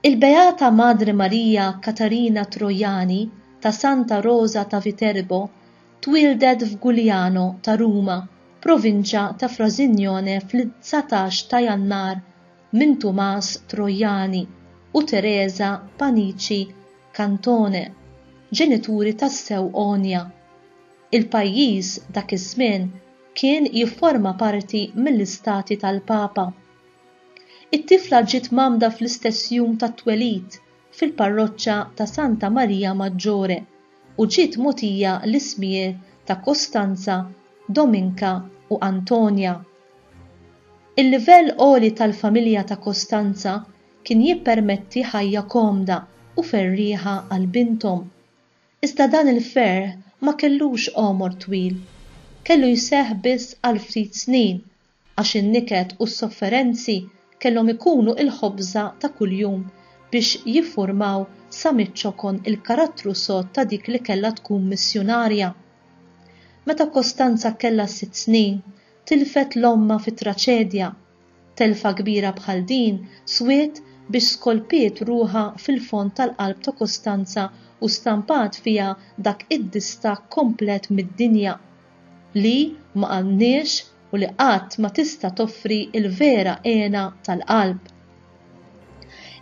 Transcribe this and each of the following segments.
Il-Beata Madre Maria Catarina Troiani ta' Santa Rosa ta' Viterbo twieldet f'Gugliano ta' Ruma, provinċja ta' Frasignone fl-dsatax ta' Jannar minn Tumas Troiani u Teresa Panici Cantone, ġenituri tassew għonja. Il-pajjiż dak iż-żmien kien jifforma parti mill-Istati tal-Papa. It-tifla ġiet mgħammda fl-istess jum tat-twelid fil-parroċċa ta' Santa Maria Maggiore u ġiet mogħtija l-ismijier ta' Costanza, Dominka u Antonia. Il-livell għoli tal-familja ta' Costanza kien jippermetti ħajja komda u ferrieħa għal binthom. Iżda dan il-ferħ ma kellux għomor twil. Kellu jseħħ biss għal ftit snin għax in-niket u s-sofferenzi kellhom ikunu l-ħobża ta' kuljum biex jiffurmaw sa miċ-ċokon il-karattru sod ta' dik li kellha tkun missjunarja. Meta Kostanza kellha sitt snin, tilfet 'l ommha fi traċedja. Telfa kbira bħal din swiet biex skolpiet ruħha fil-fond tal-qalb ta' Kostanza u stampat fiha dak id-distakk komplet mid-dinja. li ma għandniex u li qatt ma tista' toffri l-vera hena tal-qalb.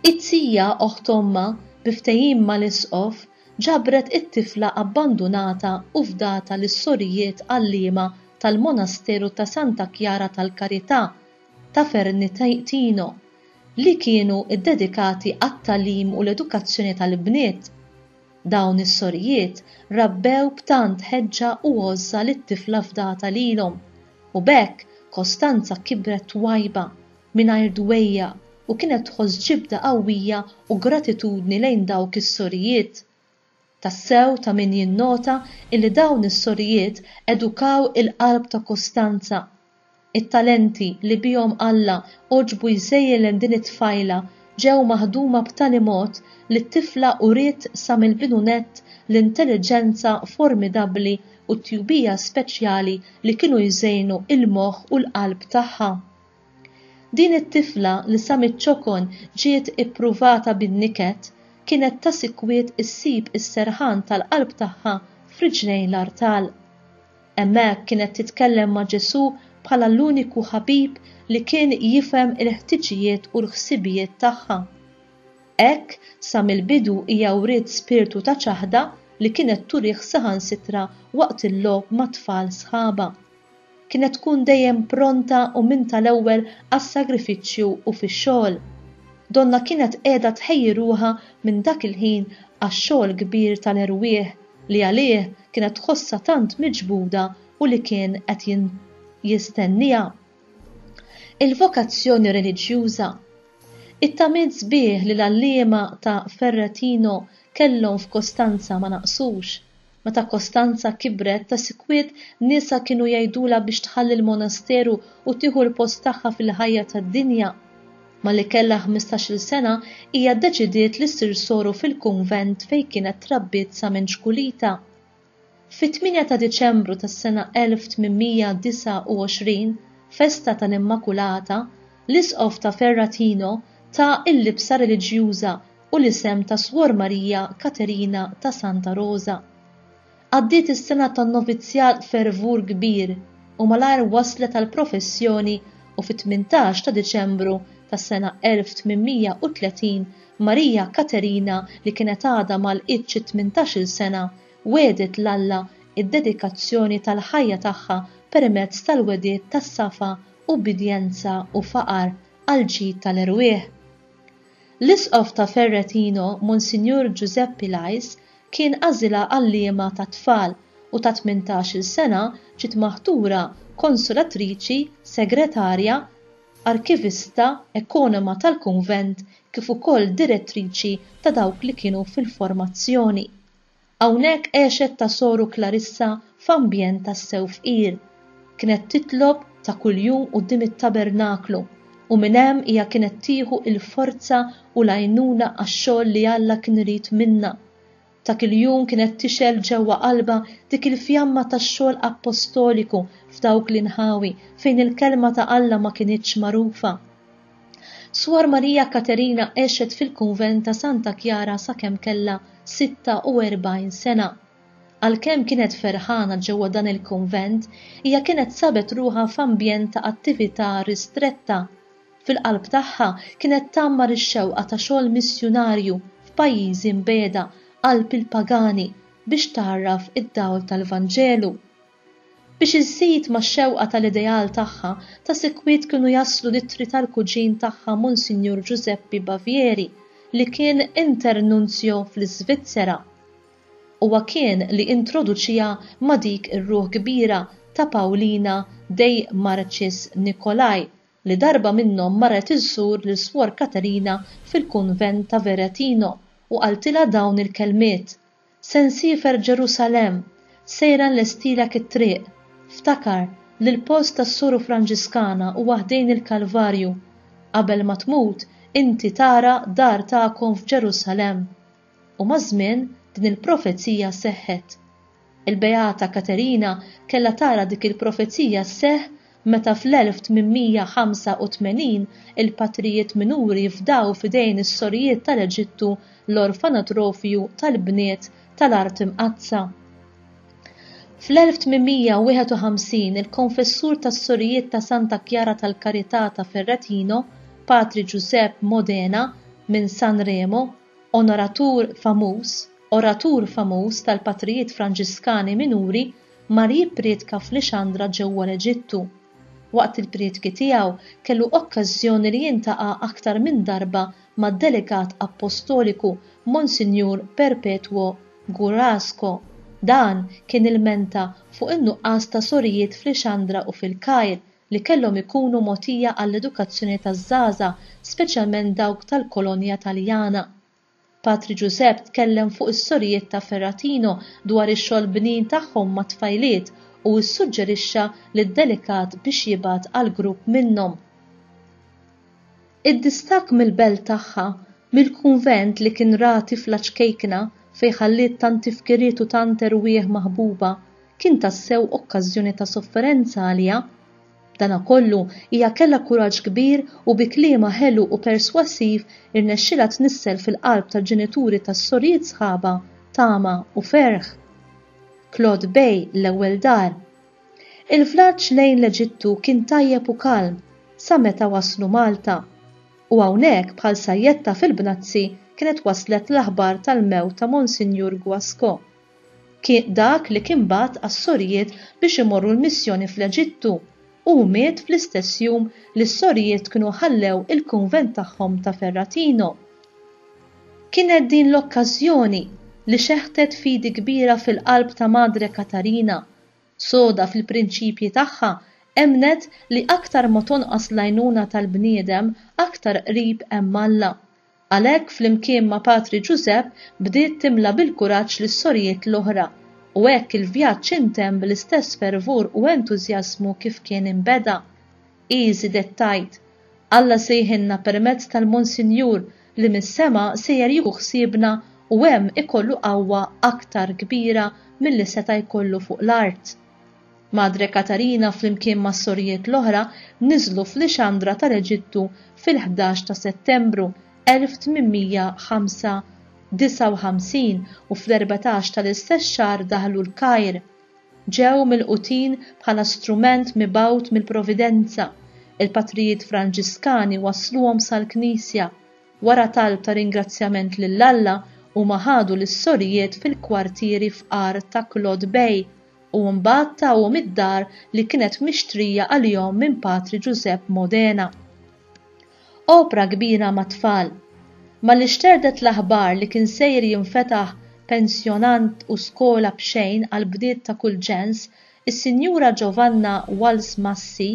It-tija, oħt ommha, bi ftehim mal-Isqof, ġabret it-tifla abbandunata u fdata lis-sorijiet għalliema tal-Monasteru ta' Santa Chiara tal-Carità ta' Fernitino, li kienu ddedikati għat-tagħlim u l-edukazzjoni tal-bniet. Dawn is-sorijiet rabbew b'tant ħeġġa u għożża lit-tifla fdata lilhom, u b'hekk Kostanza kibret twajba, mingħajr dwejjaq u kienet tħoss ġibda qawwija u gratitudni lejn dawk is-sorijiet. Tassew ta' min jinnota illi dawn is-sorijiet edukaw il-qalb ta' Kostanza, It-talenti li bihom Alla għoġbu jżejjlen din it-tfajla ġew maħduma b'tali mod li t-tifla uriet sa mill-bidu nett l-intelliġenza formidabbli u t-tjubija speċjali li kienu jżejnu l-moħħ u l-qalb tagħha. Din it-tifla li sa miċ-ċokon ġiet ippruvata bin-niket, kienet ta' sikwit issib is-serħan tal-qalb tagħha f'riġlejn l-artal. Hemmhekk kienet titkellem ma' Ġesù bħala l-uniku ħabib li kien jifhem il-ħtiġijiet u l-ħsibijiet tagħha. Hekk, sa mill-bidu hija wriet spirtu ta' ċaħda li kienet turih saħansitra waqt il-logħob mat-tfal sħabha. Kienet tkun dejjem pronta u minn tal-ewwel għas-sagrifiċċju u fix-xogħol. Donnha kienet qiegħda tħejji ruħha minn dak il-ħin għax-xogħol kbir tal-erwieħ, li għalih kienet tħossha tant miġbuda u li kien qed jistennieha. Il-vokazzjoni reliġjuża. It-tamiet sbieħ li l-għalliema ta' Ferretino kellhom f'Kostanza ma naqsux. Meta Kostanza kibret, ta' sikwit niesha kienu jgħidulha biex tħalli l-monasteru u tieħu l-post tagħha fil-ħajja tad-dinja. Malli kellha ħmistax-il sena, hija ddeċidiet li ssir soru fil-kunvent fejn kienet trabbiet sa minn ċkulitha. Fit-tmienja ta' Diċembru tas-sena 1829, festa tal-Immakulata, l-Isqof ta' Ferrathino ta l-libsa reliġjuża u l-isem ta' Suor Marija Katerina ta' Santa Rosa. Għaddiet is-sena tan-novizzjat b'fervur kbir u malajr waslet għall-professjoni u fit-tmintax ta' Diċembru tas-sena 1830 Marija Katerina li kienet għadha ma lqitx it-tmintax-il sena wegħdet 'l Alla d-dedikazzjoni tal-ħajja tagħha permezz tal-wegħdiet ta' safa, ubbidjenza u faqar għall-ġid tal-erwieħ. L-Isqof ta' Ferretino, Monsinjur Ġużeppi Lajs, kien għażilha għalliema tat-tfal u ta' tmintax-il sena ġiet maħtura konsolatriċi, segretarja, arkivista, ekonoma tal-kunvent kif ukoll direttriċi ta' dawk li kienu fil-formazzjoni. Hawnhekk għexet ta' soru Klarissa f'ambjent tassew fqir. Kienet titlob ta' kuljum quddiem it-tabernaklu, u minn hemm hija kienet tieħu l-forza u l-għajnuna għax-xogħol li Alla kien irid minnha. Ta' kiljum kienet tixgħel ġewwa qalbha dik il-fjamma tax-xogħol appostoliku f'dawk l-inħawi fejn il-kelma ta' Alla ma kinitx magħrufa. Suor Maria Katerina għexet fil-kunvent ta' Santa Chiara sakemm kellha 46 sena. Għalkemm kienet ferħana ġewwa dan il-kunvent, hija kienet sabet ruħha f'ambjent ta' attività ristretta. Fil-qalb tagħha kienet tgħammar ix-xewqa ta' xogħol missjunarju f'pajjiżi mbiegħda qalb il-pagani biex tgħarraf id-dawl tal-Vanġelu. Biex iżżid max-xewqa tal-ideal tagħha ta' sikwit kienu jaslu l-ittri tal-kuġin tagħha Monsinjur Ġużeppi Bavieri li kien Internunzjo fl-Iżvizzera. Huwa kien li introduċiha ma' dik ir-ruħ kbira ta' Paulina dei Marcis Nicolai li darba minnhom marret iżżur lil Swor Katerina fil-kunvent ta' Veretino u qaltilha dawn il-kelmiet, Se nsiefer Ġerusalemm, sejra nlestilek it-triq. Ftakar li l-post tas-Soru Franġiskana huwa ħdejn il-Kalvarju. Qabel ma tmut, inti tara dar tagħkom f'Ġerusalemm. U maż-żmien din il-profezija seħħet. Il-Beata Katerina kellha tara dik il-profezija sseħħ meta fl-1885 il-patrijiet minuri fdaw f'idejn is-sorijiet tal-Eġittu l-orfanatrofju tal-bniet tal-Art Imqaddsa. Fl-1851 il-konfessur tas-Sorijiet ta' Santa Chiara tal-Carità ta' Ferretino, Patri Giuseppe Modena, minn San Remo, Onoratur famuż, oratur famuż tal-patrijiet Franġiskani Minuri mar jippriedka f'Lixandra ġewwa l-Eġittu. Waqt il-priedki tiegħu kellu okkażżjoni li jiltaqa' aktar minn darba mad-delegat appostoliku Monsinjur Perpetuo Gurasco. Dan kien ilmenta fuq in-nuqqas ta' sorijiet f'Lixandra u f'Il-Kajr li kellhom ikunu mogħtija għall-edukazzjoni taż-żgħażagħ speċjalment dawk tal-kolonja Taljana. Patri Ġużepp tkellem fuq is-sorijiet ta' Ferratino dwar ix-xogħol bnin tagħhom mat-tfajliet u ssuġġerixxa lid-delegat biex jibgħat għal grupp minnhom. Id-distakk mill-belt tagħha, mill-kunvent li kien ra tifla ċkejkna fejn ħalliet tant tifkiriet u tant erwieħ maħbuba, kien tassew okkażjoni ta' sofferenza għaliha. B'danakollu, hija kellha kuraġġ kbir u bi kliemha ħelu u perswasiv irnexxielha tnissel fil-qalb tal-ġenituri tas-sorijiet sħabha tama u ferħ. Claude Bay, l-ewwel dar. Il-vlaġġ lejn l-Eġittu kien tajjeb u kalm sa meta waslu Malta. U hawnhekk bħal sajjetta fil-bnazzi kienet waslet l-aħbar tal-mewt ta' Monsinjur Guascò. Ki dak li kien bagħat għas-sorijiet biex imorru l-missjoni fl-Eġittu, hu miet fl-istess jum li s-sorijiet kienu ħallew il-kunvent tagħhom ta' Ferratino. Kienet din l-okkażjoni li xeħtet fidi kbira fil-qalb ta' Madre Katarina soda fil-prinċipji tagħha emmnet li aktar ma tonqos l-għajnuna tal-bniedem aktar qrib hemm Alla. Għalhekk flimkien ma' Patri Ġużepp bdiet timla bil-kuraġġ lis-sorijiet l-oħra u hekk il-vjaġġ intemm bl-istess fervur u entużjażmu kif kien inbeda. Hi żiedet tgħid, Alla sejħilna permezz tal-Monsinjur li mis-sema sejjer jieħu ħsiebna u hemm ikollu qawwa aktar kbira milli seta' jkollu fuq l-art. Madre Katarina flimkien mas-sorijiet l-oħra niżlu f'Lixandra tal-Eġittu fil-ħdax ta' Settembru 1859 u fl-erbatax tal-istess xahar daħlu l-Kajr, ġew milqutin bħala strument mibgħut mill-Providenza, il-Patrijiet Franġiskani wassluhom sal-Knisja. Wara talb ta' ringrazzjament lil Alla, huma ħadu lis-sorijiet fil-kwartieri fqar ta' Claude Bay u mbagħad tawhom id-dar li kienet mixtrija għalihom minn Patri Ġużepp Modena. Opra kbira mat-tfal. Malli xterdet l-aħbar li kien sejr jinfetaħ pensjonant u skola b'xejn għall-bniet ta' kull ġens, is-Sinjura Giovanna Walz Massi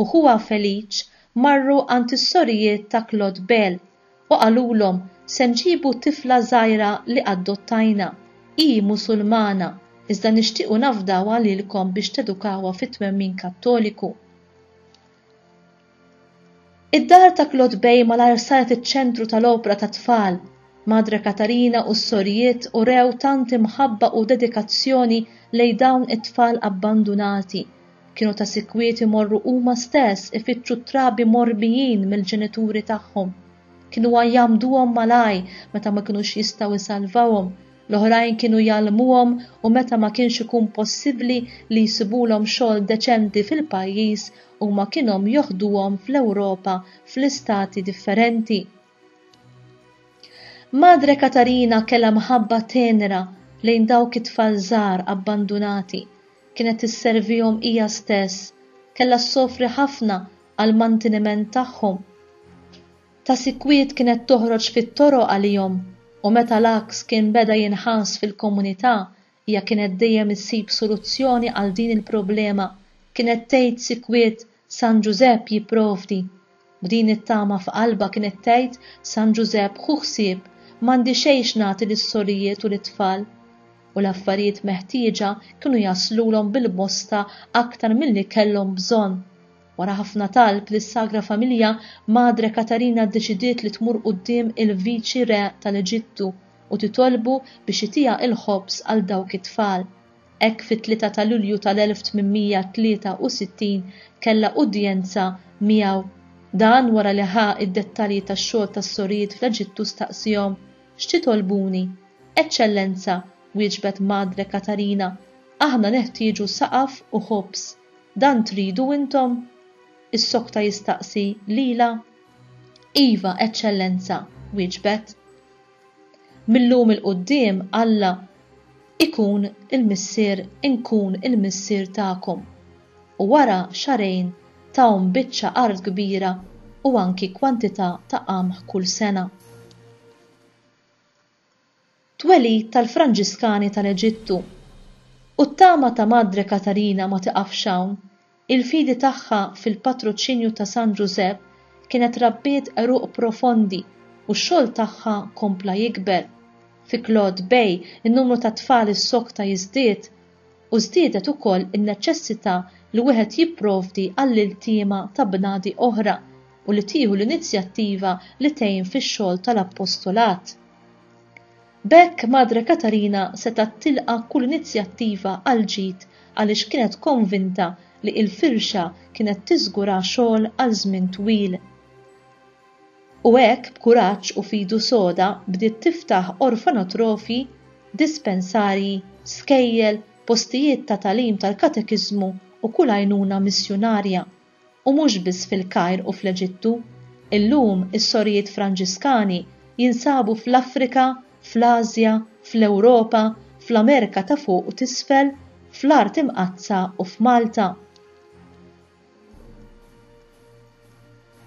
u ħuha Felic marru għand is-sorijiet ta' Claude Bell u qalulhom se nġibu tifla żgħira li addottajna. Hi Musulmana, iżda nixtiequ nafdawha lilkom biex tedukawha fit-twemmin Kattoliku. Id-dar ta' Claude Bay malajr saret iċ-ċentru tal-opra tat-tfal. Madre Katarina u s-sorijiet urew tant imħabba u dedikazzjoni lejn dawn it-tfal abbandunati. Kienu ta' sikwit imorru huma stess ifittxu t-trabi morbijin mill-ġenituri tagħhom. Kienu jgħammduhom mal-għaj meta ma kinux jistgħu jsalvawhom, l-oħrajn kienu jgħallmuhom u meta ma kienx ikun possibbli li jsibulhom xogħol deċenti fil-pajjiż Huma kienhom joħduhom fl-Ewropa fl-istati differenti. Madre Katarina kellha mħabba tenra lejn dawk it-tfal żgħar abbandunati, kienet isservihom hija stess, kellha ssofri ħafna għall-mantiniment tagħhom. Ta' sikwit kienet toħroġ fit-toroq għalihom u meta l-għaks kien beda jinħass fil-komunità, Hija kienet dejjem issib soluzzjoni għal din il-problema, kienet tgħid sikwit San Ġużepp jipprovdi. B'din it-tama f'qalbha kienet tgħid San Ġużepp ħu ħsieb, m'għandi xejn x'nagħti lis-sorijiet u lit-tfal. U l-affarijiet meħtieġa kienu jaslulhom bil-bosta aktar milli kellhom bżonn. Wara ħafna talb lis-Sagra Familja, Madre Katarina ddeċidiet li tmur quddiem il-Viċi Re tal-Eġittu, u titolbu biex itiha il-ħobż għal dawk it-tfal. Hekk fit-tlieta ta' Lulju tal-1863 kellha udjenza miegħu. Dan wara li ħa id-dettalji tax-xogħol tas-sorijiet fl-Eġittu staqsihom, X'titolbuni? Eċċellenza, wieġbet Madre Katarina, aħna neħtieġu saqaf u ħobż. Dan tridu intom? issokta jistaqsi lilha. Iva, Eċċellenza, wieġbet. Mil-lum 'il quddiem Alla ikun il-Missier inkun il-Missier tagħkom. U wara xahrejn tahom biċċa art kbira u anki kwantità ta' qamħ kull sena. Twelid tal-Franġiskani tal-Eġittu U t-tama ta' Madre Katarina ma tiqafx hawn, Il-fidi tagħha fil-patruċinju ta' San Ġużepp kienet rabbiet għeruq profondi u x-xogħol tagħha kompla jikber. Fi Claude Bay in-numru tat-tfal is-sokta jiżdied u żdiedet ukoll in-neċessità li wieħed jipprovdi għall-iltiema ta' bnadi oħra u li tieħu l-inizjattiva li tgħin fix-xogħol tal-appostolat. B'hekk Madre Katarina setgħet tilqa' kull inizjattiva għall-ġid għaliex kienet konvinta li il-firxa kienet tiżgura xogħol għal żmien twil. U hekk b'kuraġġ u f'idu soda bdiet tiftaħ orfanotrofi, dispensarji, skejjel, postijiet ta' tagħlim tal-katekiżmu u kull għajnuna missjunarja u mhux biss fil-Kajr u fl-Eġittu. Illum is-sorijiet Franġiskani jinsabu fl-Afrika, fl-Ażja, fl-Ewropa, fl-Amerika ta' Fuq u t'Isfel, fl-Art Imqaddsa u f'Malta.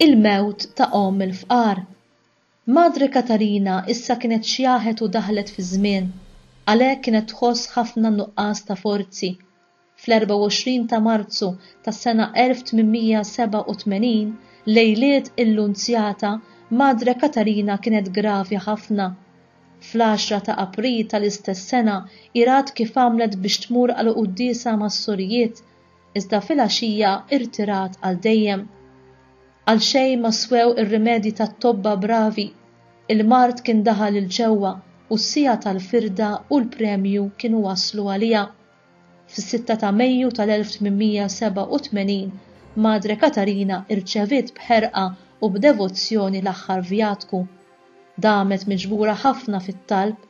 Il-mewt ta' omm il-fqar. Madre Katarina issa kienet xjaħet u daħlet fiż-żmien, għalhekk kienet tħoss ħafna n-nuqqas ta' forzi. Fl-24 ta' Marzu tas-sena 1887, lejliet il-Lunzjata, Madre Katarina kienet gravi ħafna. Fl-għaxra ta' April tal-istess sena hi rat kif għamlet biex tmur għal quddiesa mas-sorijiet, iżda filgħaxija irtirat għal dejjem. Għal xejn ma swew ir-rimedji tat-tobba bravi, il-mard kien daħal 'il ġewwa u s-siegħa tal-firda u l-premju kienu waslu għaliha. Fis-sitta ta' Mejju tal-1887 Madre Katarina irċeviet b'ħerqa u b'devozzjoni l-aħħar vjatku. Damet miġbura ħafna fit-talb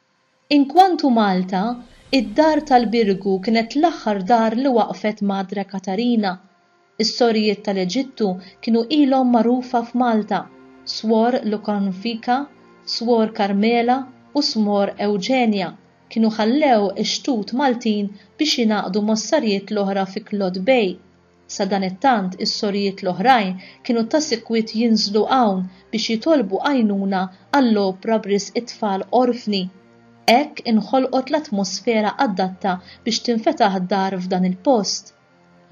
Inkwantu Malta, id-Dar tal-Birgu kienet l-aħħar dar li waqfet Madre Katarina. Is-Sorijiet tal-Eġittu kienu ilhom magħrufa f'Malta, Swor Lukornfika, Swor Karmela u Smor Ewġenja kienu ħallew ix-xtut Maltin biex jingħaqdu mossarijiet l-oħra fi Klod Bay, Sadanittant is-sorijiet l-oħrajn kienu ta' sikwit jinżlu hawn biex jitolbu għajnuna għall-opra b'risq it-tfal orfni. Hekk inħolqot l-atmosfera adatta biex tinfetaħ dar f'dan il-post.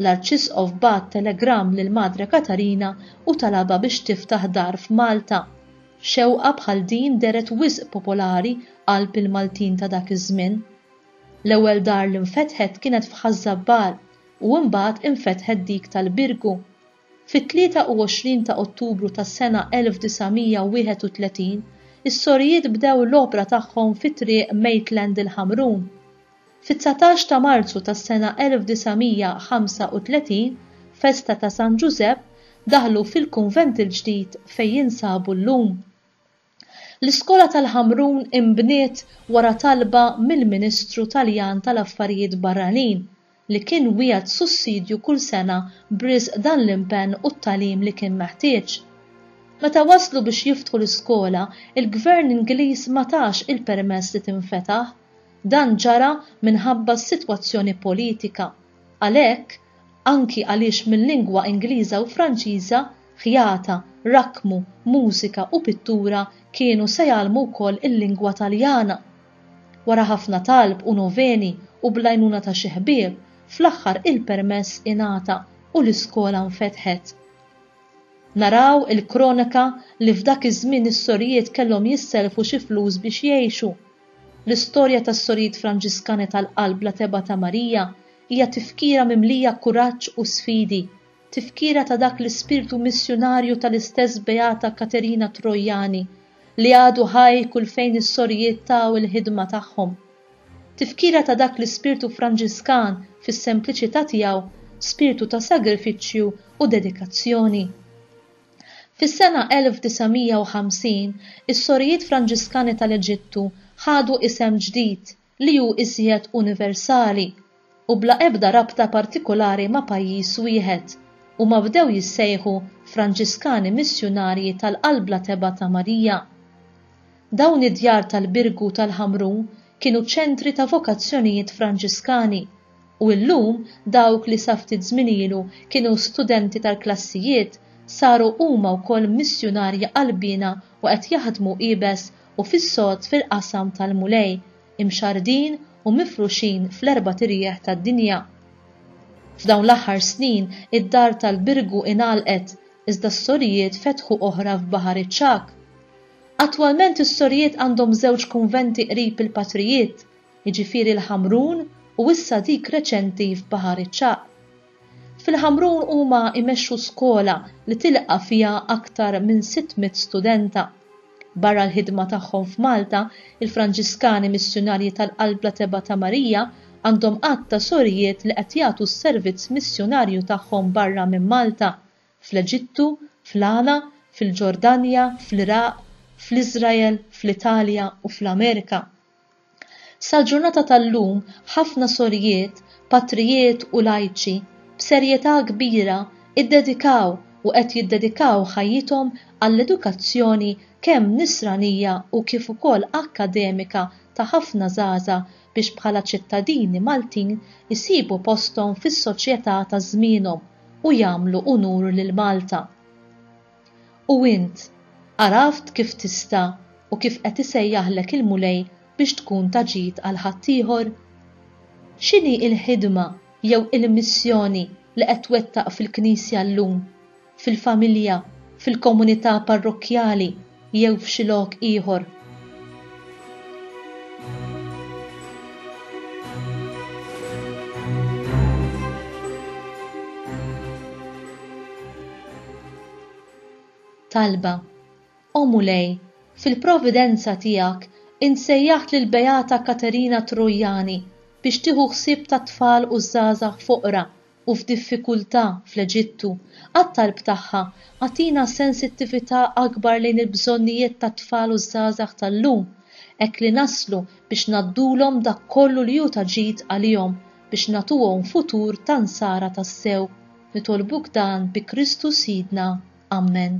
L-Arċisqof bagħat telegramm lil Madre Katarina u talabha biex tiftaħ dar f'Malta. Xewqa bħal din dehret wisq popolari qalb il-Maltin ta' dak iż-żmien. L-ewwel dar li nfetħet kienet f'Ħaż-Żabbar. u imbagħad infetħet dik tal-Birgu. Fit-23 ta' Ottubru tas-sena 1931, is-sorijiet bdew l-opra tagħhom fi Triq Maitland il-Ħamrun. Fit-dsatax ta' Marzu tas-sena 1935, festa ta' San Ġużepp, daħlu fil-kunvent il-ġdid fejn jinsabu llum. L-iskola tal-Ħamrun inbniet wara talba mill-Ministru Taljan tal-Affarijiet Barranin li kien wiegħed sussidju kull sena b'riżq dan l-impenn u t-tagħlim li kien meħtieġ. Meta waslu biex jiftħu l-iskola, il-Gvern Ingliż ma tax il-permess li tinfetaħ. Dan ġara minħabba s-sitwazzjoni politika. Għalhekk, anki għaliex mil-lingwa Ingliża u Franċiża, ħjata, rakkmu, mużika u pittura kienu se jgħallmu wkoll il-lingwa Taljana. Wara ħafna talb u noveni u bl-għajnuna ta' xi ħbieb, fl-aħħar il-permess ingħata u l-iskola nfetħet. Naraw il-kroneka li f'dak iż-żmien is-sorijiet kellhom jissellfu xi flus biex jgħixu. L-istorja tas-Sorijiet Franġiskani tal-Qalb bla Tebgħa ta' Marija Hija tifkira mimlija kuraġġ u sfidi, tifkira ta' dak l-ispirtu missjunarju tal-istess Beata Katerina Troiani li għadu ħaj kull fejn is-sorijiet taw il-ħidma tagħhom. Tifkira ta' dak l-ispirtu Franġiskan fis-sempliċità tiegħu, spirtu ta' sagrifiċċju u dedikazzjoni. Fis-sena 1950, is-Sorijiet Franġiskani tal-Eġittu ħadu isem ġdid, li hu iżjed universali u bla ebda rabta partikulari ma' pajjiż wieħed, huma bdew jissejħu Franġiskani Missjunarji tal-Qalbla Tebgħa ta' Marija. Dawn id-djar tal-Birgu tal-Ħamru kienu ċentri ta' vokazzjonijiet Franġiskani u illum dawk li sa ftit żmien ilu kienu studenti tal-klassijiet saru huma wkoll missjunarji qalbiena u qed jaħdmu iebes u fis-sod fil-qasam tal-Mulej, imxarrdin u mifruxin fl-erbat irjieħ tad-dinja. F'dawn l-aħħar snin id-dar tal-Birgu ingħalqet iżda s-sorijiet fetħu oħra f'Baħar iċ-Ċagħaq. Attwalment is-sorijiet għandhom żewġ kunventi qrib il-Patrijiet, jiġifieri l-Ħamrun u issa dik reċenti f'Baħar iċ-Ċagħaq. Fil-Ħamrun huma jmexxu skola li tilqa' fiha aktar minn 600 studenta. Barra l-ħidma tagħhom f'Malta, il-Franġiskani Missjunarji tal-Qalbla Tebgħa ta' Marija għandhom għadd ta' sorijiet li qed jagħtu s-servizz missjunarju tagħhom barra minn Malta, fl-Eġittu, fl-Ghana, fil-Ġordanja, fl-Iraq, fl-Iżrael, fl-Italja u fl-Amerika. Sal-ġurnata tal-lum ħafna sorijiet, patrijiet u lajċi, b'serjetà kbira, iddedikaw u qed jiddedikaw ħajjithom għall-edukazzjoni kemm nisranija u kif ukoll akkademika ta' ħafna żgħażagħ biex bħala ċittadini Maltin isibu posthom fis-soċjetà ta' żmienhom u jagħmlu unur lil Malta. U int, għaraft kif tista' u kif qed isejjaħlek il-Mulej biex tkun ta' ġid għal ħaddieħor? X'inhi l-ħidma jew il-missjoni li qed twettaq fil-Knisja llum, fil-familja, fil-komunità parrokkjali jew f'xi lok ieħor? Talba O Mulej, fil-providenza tiegħek insejjaħt lil Beata Katerina Trojani biex tieħu ħsieb tat-tfal u ż-żgħażagħ foqra u f'diffikultà fl-Eġittu, għat-talb tagħha, agħtina sensittività akbar lejn il-bżonnijiet tat-tfal u ż-żgħażagħ tal-lum, hekk li naslu biex ngħaddulhom dak kollu li hu ta' ġid għalihom, biex nagħtuhom futur ta' Nsara tassew. Nitolbuk dan bi Kristu Sidna. Ammen.